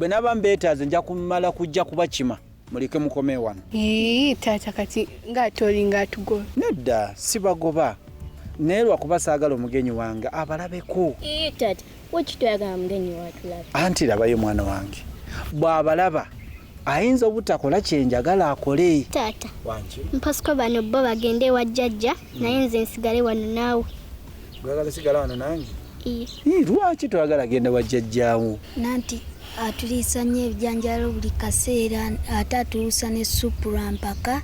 bwe naba mbeetaaze nja kumala kujja kubakima muleke mukome wano taata kati ng'ate olinga atugoba nedda sibagoba naye lwakuba saagala omugenyi wange abalabeko taata anti labayo mwana wange bwabalaba ayinza obutakola kyenjagala akole taata mpasiko bano bo bagende ewa jjajja hmm. naye nze nsigale wano naawe lwaki toyagala genda wa jjajjaawo nanti atuliisa nnyo ebijanjalo buli kaseera ate atuusa ne supu lwa mpaka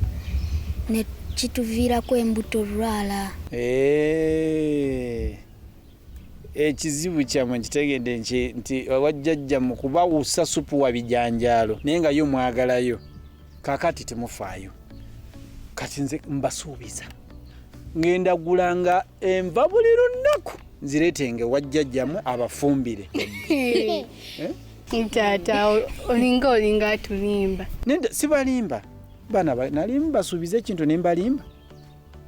ne kituviirako embuto olwala eh. ekizibu kyamwe nkitegedde nti wajjajja mu kubawusa supu wa bijanjaalo naye nga yo mwagalayo kakati temufaayo kati nze mbasuubiza ngenda gulanga enva buli lunnaku nzireetenge wajjajjamu abafumbire eh? taata olinga olinga atulimba sibalimba bana nali mbasuubiza ekintu nembalimba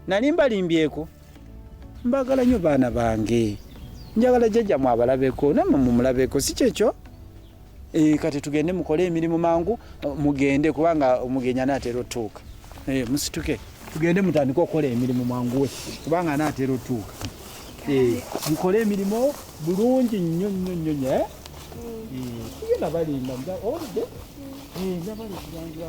nali mbalimbyeko mbagala nyo baana bange njagala jajja mwabalabeko namwe mumulabeko si kyekyo e, kati tugende mukole emirimu mangu mugende kubanga omugenyi anaatera otuuka e, musituke tugende mutandike okukola emirimu manguwe kubanga anaatera otuuka e, mukole emirimu bulungi nnyo nnyo nnyo nyo eh? tugenda balimba oludde nabalekubanga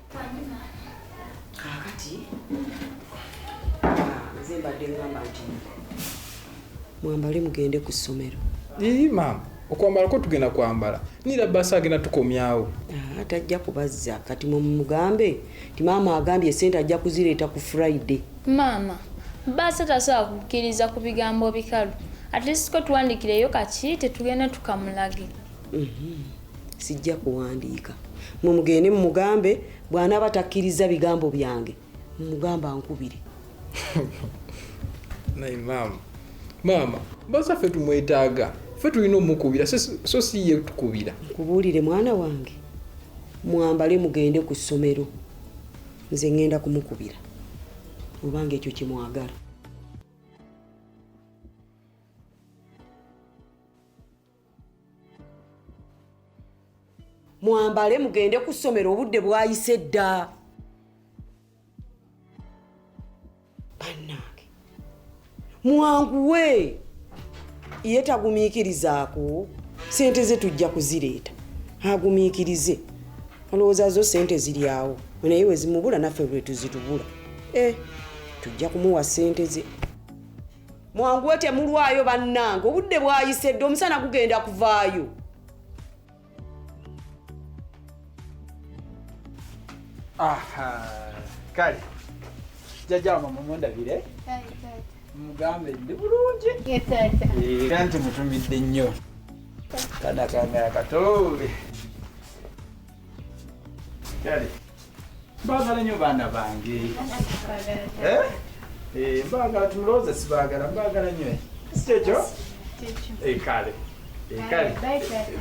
kaakati ah, nze mbadde ngamba nti mwambale mugende ku ssomero ii maama okwambala ko tugenda kwambala nira basi agenda tukomyawo ah, tajja kubazza kati mumugambe ti maama agambye esente ajja kuzireeta ku friday maama baasa tasobola kukkiriza ku bigambo bikalu atleast ko tuwandikireyo kaki tetugenda tukamulage mm -hmm. sijja kuwandiika mwe mugende mumugambe bw'anaaba takkirizza bigambo byange mumugamba nkubire naye maama maama baza ffe tumwetaaga ffe tulina omukubira so si ye tukubira nkubuulire mwana wange mwambale mugende ku ssomero nze ŋŋenda kumukubira obanga ekyo kimwagala mwambale mugende ku ssomero obudde bwayise dda bannange mwanguwe ye tagumiikirizaako sente ze tujja kuzireeta agumiikirize olowooza zo sente ziri awo naye wezimubula naffe lwetuzitubula e eh, tujja kumuwa sente ze mwanguwe temulwayo bannange obudde bwayise dde omusana gugenda kuvaayo kale jjajja wama mumundabire mugambe ndi bulungi era nti mutumidde nnyo kana kangala katoobe kale mbagala nyo baana bange eh? Eh, mbagala tumulowooze sibagala mbagala nyo sikyekyo eh, kale kale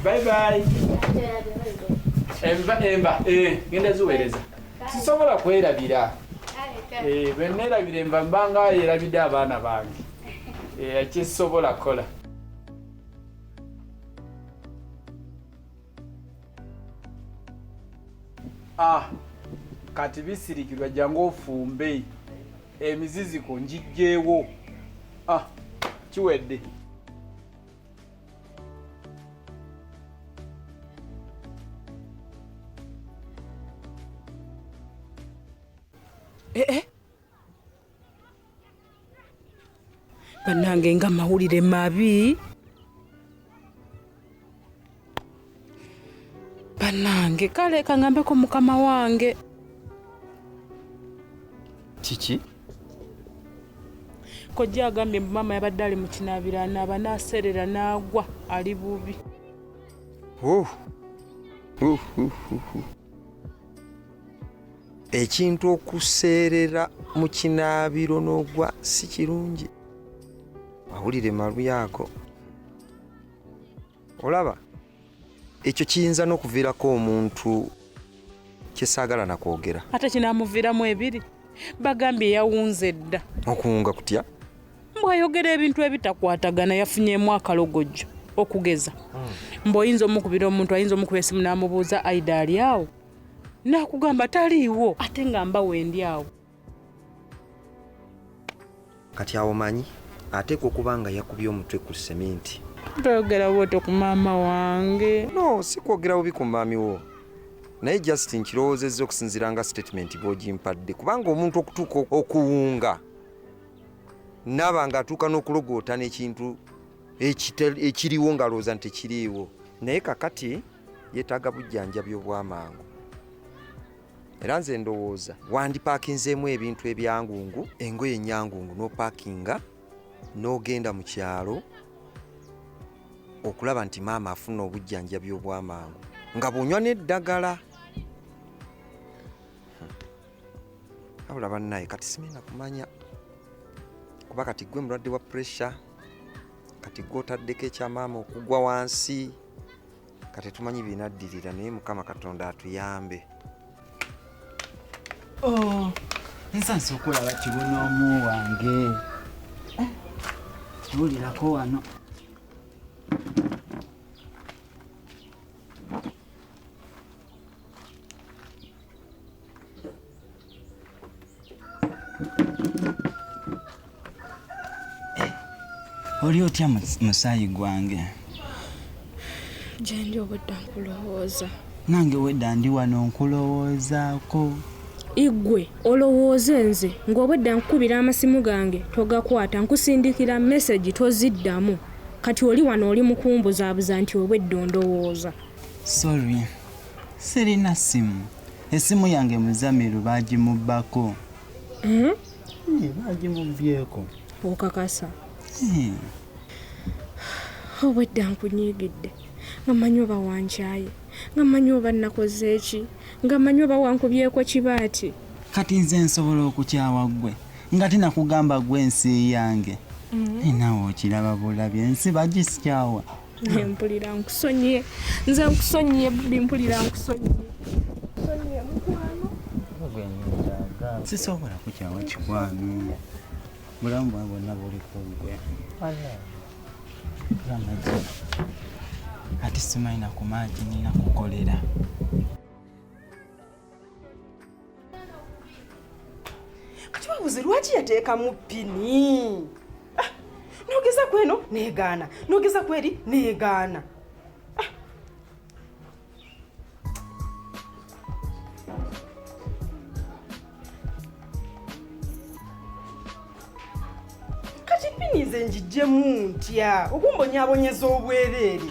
baibai emba emba genda ziweereza sisobola kwerabira bwenerabira emba mbanga yerabidde abaana bange kyesobola kukola Ah, kati bisirikirwa jangu ofumbe emiziziko njijjeewo ah, kiwedde banange nga mawulire mabi banange kale kangambeko mukama wange kiki kojja agambye mbu maama yabadde ali mu kinaabira anaaba naaseerera n'agwa ali bubi ekintu okuseerera mu kinaabiro n'ogwa si kirungi awulire maluyaako olaba ekyo kiyinza n'okuviirako omuntu kyesaagala nakwogera ate kinamuviiramu ebiri bagambye yawunze dda okuwunga kutya mbwayogera ebintu ebitakwatagana yafunyemu akalogojjo okugeza hmm. mbu oyinza omukubira omuntu ayinza omukuba esimu namubuuza aida ali awo nakugamba taliiwo ate nga mba wendi awo kati awo manyi ateekwa okuba nga yakubye omutwe ku seminti toyogera bwoto ku maama wange no si kwogera bubi ku maami wo naye just nkirowoozezza okusinziira nga sitatimenti bwogimpadde kubanga omuntu okutuuka okuwunga naaba nga atuuka n'okulogootana ekintu ekiriwo ng'alowooza nti tekiriiwo naye kakati yeetaaga bujjanjabi obw'amangu era nze ndowooza wandipaakinzeemu ebintu ebyangungu engoye enyangungu n'opaakinga n'ogenda mu kyalo okulaba nti maama afuna obujjanjabi obw'amangu nga bunywa n'eddagala abula hmm. bannaye kati simina kumanya kuba kati gwe mulwadde wa puresure kati gwotaddeko ekya maama okugwa wansi kati tumanyi binaddirira naye mukama katonda atuyambe oh, nsansa okulaba kibuna omu wange eh, tuwulirako wano oli otya musaayi gwange gyendi obudda nkulowooza nange wedda ndi wano nkulowoozaako igwe olowooze nze ng'obwedda nkukubira amasimu gange togakwata nkusindikira mesegi toziddamu kati oli wano oli mukumbuzaabuza nti obwedda ondowooza Sorry, sirina ssimu. Essimu yange Muzamiru baagimubbako. Hmm? Eh, baagimubbyeko. Okakasa? Eh. Obwedda oh, nkunyiigidde nga mmanyi oba wankyaye nga mmanyi oba nnakoze ki nga mmanyi oba wankubyeko kibaati. Kati nze nsobola okukyawa ggwe nga tinakugamba gwe ensi yange. Hmm. Eh, nawe okiraba bulabi ensi bagisikyawa. naye mpulira nkusonyiye nze nkusonyiye bbi mpulira nkusonyiye sisobola kukyawa kikwano bulamu bwa bonna buli kugwe ati simanyi nakumaaki nina kukolera kati babuze lwaki yateekamu pini ah, nogeza kweno negaana nogeza kweri negaana ah. kati pini nze njijjemu ntya okumbonyabonyeza obwereere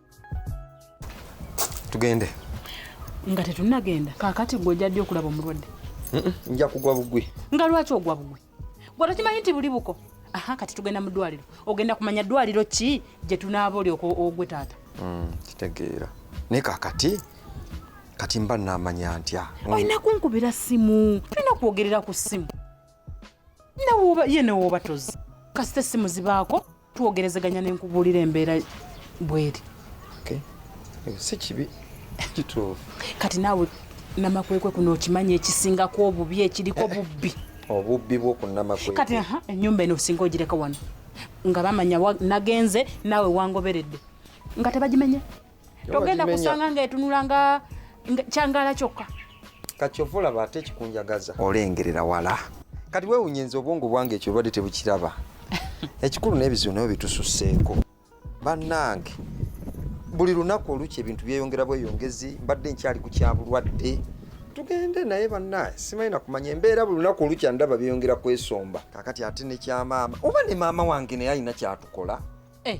tugende nga tetunagenda kakati gwe ojja ddi okulaba omulwadde nja kugwa bugwi nga lwaki ogwa bugwi gwe tokimanyi nti buli buko aha kati tugenda mu ddwaliro ogenda kumanya ddwaliro ki gye tunaaba oli ogwe taata mm, kitegeera naye kakati kati mba namanya ntya mm. olina kunkubira simu tulina kwogerera ku simu nawoba ye newooba tozi kasita essimu zibaako twogerezeganya ne nkubuulira embeera bweri eh, si kibi kituufu kati naawe namakwekwe kuno okimanyi ekisingako obubi ekiriko eh, eh. bubbi obubbi bwokunamakwekwe kati enyumba eno osinga ogireka wano nga bamanya nagenze naawe wangoberedde nga tebagimenye togenda kusanga nga etunula nga kyangala kyokka kakyova olaba ate ekikunjagaza olengerera wala kati wewunya nze obwongo bwange ekyo obadde tebukiraba ekikulu n'ebizibu nayo bitususseeko bannange buli lunaku olukya ebintu byeyongera bweyongezi mbadde nkyali ku kyabulwadde tugende naye bannaye simanyi nakumanya embeera buli lunaku olukya ndaba byeyongera kwesomba kakati ate nekyamaama oba ne maama wange naye alina kyatukola eh.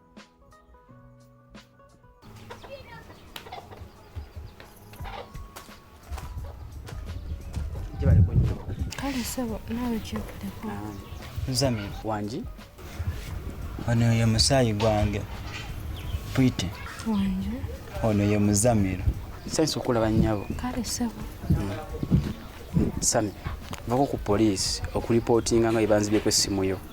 kale sebo naawe kyokuleko nzami wangi ono ye musaayi gwange pwite wangi ono ye muzamiro nsanyusa okulaba nnyabo kale sebo hmm. sami vako ku poliisi okulipootinga nga ebanzibyeko essimu yo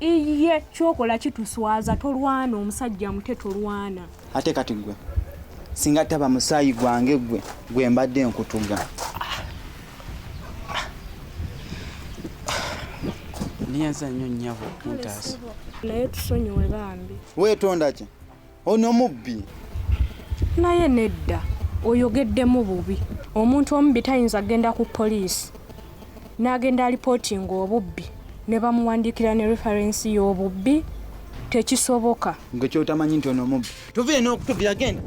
iye kyokola kituswaza tolwana omusajja mute tolwana ate kati gwe singa taba musaayi gwange gwe gwe mbadde nkutuga niyaza nnyo nnyabo kuntaasa naye tusonyiwe bambi weetondaki Ono mubbi. Naye nedda oyogeddemu bubi. Omuntu omubbi tayinza kugenda ku poliisi n'agenda alipootinga obubbi ne bamuwandiikira ne referensi y'obubbi tekisoboka. Gwe kyotamanyi nti ono mubbi. Tuviire n'okutuvira genda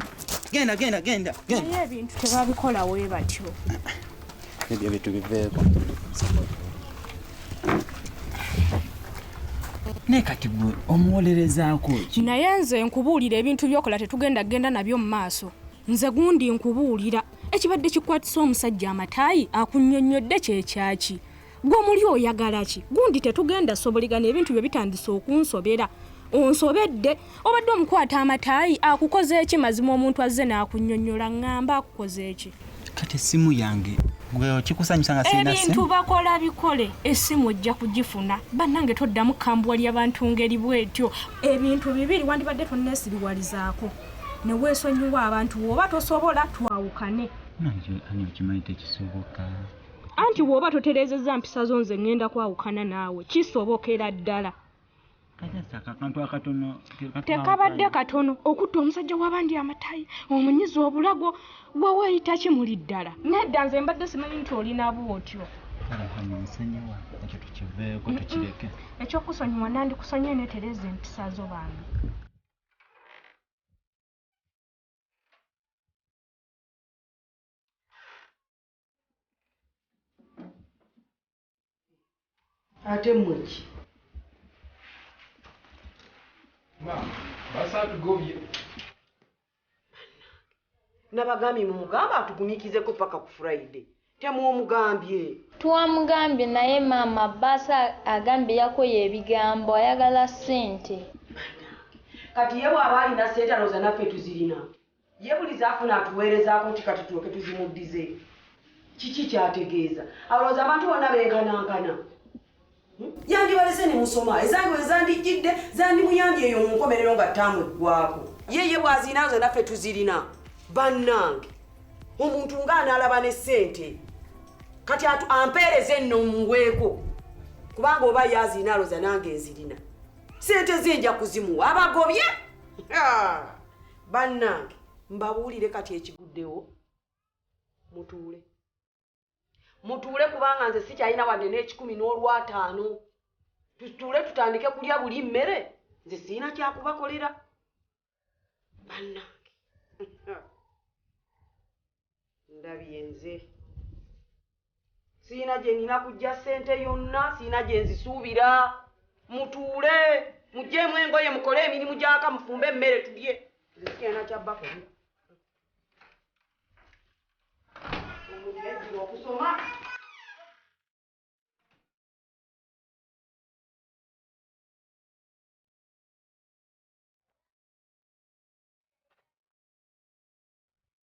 genda genda genda. Naye ebintu tebabikola we batyo. Ebyo bitu biveeko. naye kati gwe omuwolerezaako ki naye nze nkubuulira ebintu byokola tetugenda genda nabyo mu maaso nze gundi nkubuulira ekibadde kikwatisa omusajja amataayi akunyonnyodde kyekyaki gwe omuli oyagala ki gundi tetugenda soboligana ebintu bye bitandise okunsobera onsobedde obadde omukwata amataayi akukoze eki mazima omuntu azze n'akunyonyola ngamba akukoze eki kati essimu yange ebintu bakola bikole essimu ojja kugifuna bannange toddamu kambwa lyabantu ngeri bwetyo ebintu bibiri wandibadde tonneesiriwalizaako ne weesonyiwa abantu woba tosobola twawukane anti woba toterezeza mpisa zo nze ngenda kwawukana naawe kisobokera ddala tekabadde katono okutta omusajja wabandi amatayi omunyiza obulago gwe weyita kimuli ddala nedda nze mbadde simanyi nti olinaba otyo ekyokusonyiwa nandikusonyiwe netereza empisa zo bambi ate mweki nabagambye mumugamba atugumikizeko paka ku friday temwomugambye twamugambye naye maama baasa agambye yakoye ebigambo ayagala sente kati ye bwaba alina sente alooza naffe tuzirina Ye buli z'afuna atuweerezaako nti kati tulyoke tuzimuddize? Kiki ky'ategeeza? Alowooza abantu bonna benkanankana? Yandibalese ne musoma. Ezange bwe zandijjidde, zandimuyambye eyo mu nkomerero nga ttaamu eggwaako. Ye ye bw'azirina nze naffe tuzirina. Bannange, omuntu ng'anaalaba ne ssente kati ampeereze enno muweeko kubanga oba ye azirina alowooza nange nzirina. Ssente ze nja kuzimuwa abagobye. bannange mbabuulire kati ekiguddewo mutuule mutuule kubanga nze sikyalina wadde n'ekikumi n'olwataano tutuule tutandike kulya buli mmere nze sirina kyakubakolera bannange ndabye nze sirina gye nina kujja ssente yonna sirina gye nzisuubira mutuule muggyemu engoye mukole emirimu gyaka mufumbe emmere tulye nze sikirina kyabbakoli omuntu yajjira okusoma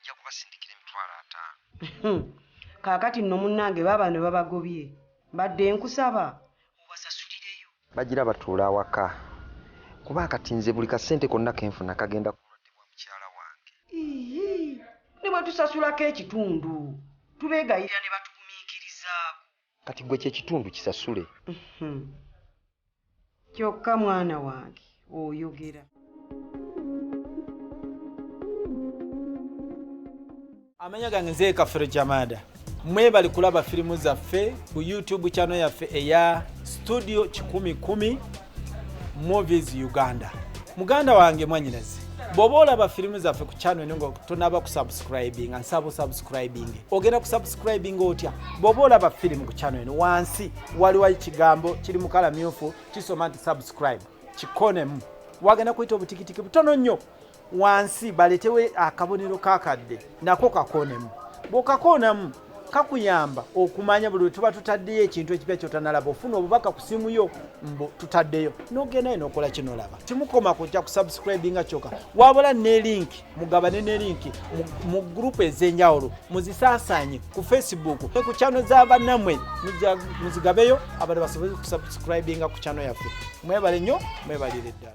nja kubasindikira emitwalo ataano. Kaakati nno munnange baaba ne babagobye mbadde nkusaba obasasulireyo. Bagira batuula awaka kuba kati nze buli kasente konna ke nfuna kagenda ku bulwadde bwa mukyala wange. Yiyi! Ne bwe tusasulako ekitundu tubeegayirira ne batugumiikirizaako. kati gwe kyekitundu kisasule mhm. kyokka mwana wange oyogera amanya gange nze kafero jamada mwebali kulaba firimu zaffe ku youtube channel yaffe eya studio kikumi kumi movies uganda muganda wange mwanyinaze bwoba olaba firimu zaffe ku channel eno nga tonaba kusubscribinga nsaba osubscribing ogenda kusubscribinga otya bwoba olaba firimu ku channel eno wansi waliwo ekigambo kiri mukala myufu kisoma nti subscribe kikonemu wagenda kuyita obutikitiki butono nnyo wansi baletewo akabonero kakadde nako kakoonemu bwokakoonamu kakuyamba okumanya buli wetuba tutaddeyo ekintu ekipya kyotanalaba ofuna obubaka ku simu yo mbu tutaddeyo nogendayo nokola kino laba kimukoma kujja ku subscribinga kyoka wabula ne linki mugabane ne linki mu gurupu ez'enjawulo muzisaasanye ku facebook ne ku kyano za bannamwe muzigabeyo abantu basobole ku subscribinga ku kyano yaffe mwebale nnyo mwebalire ddala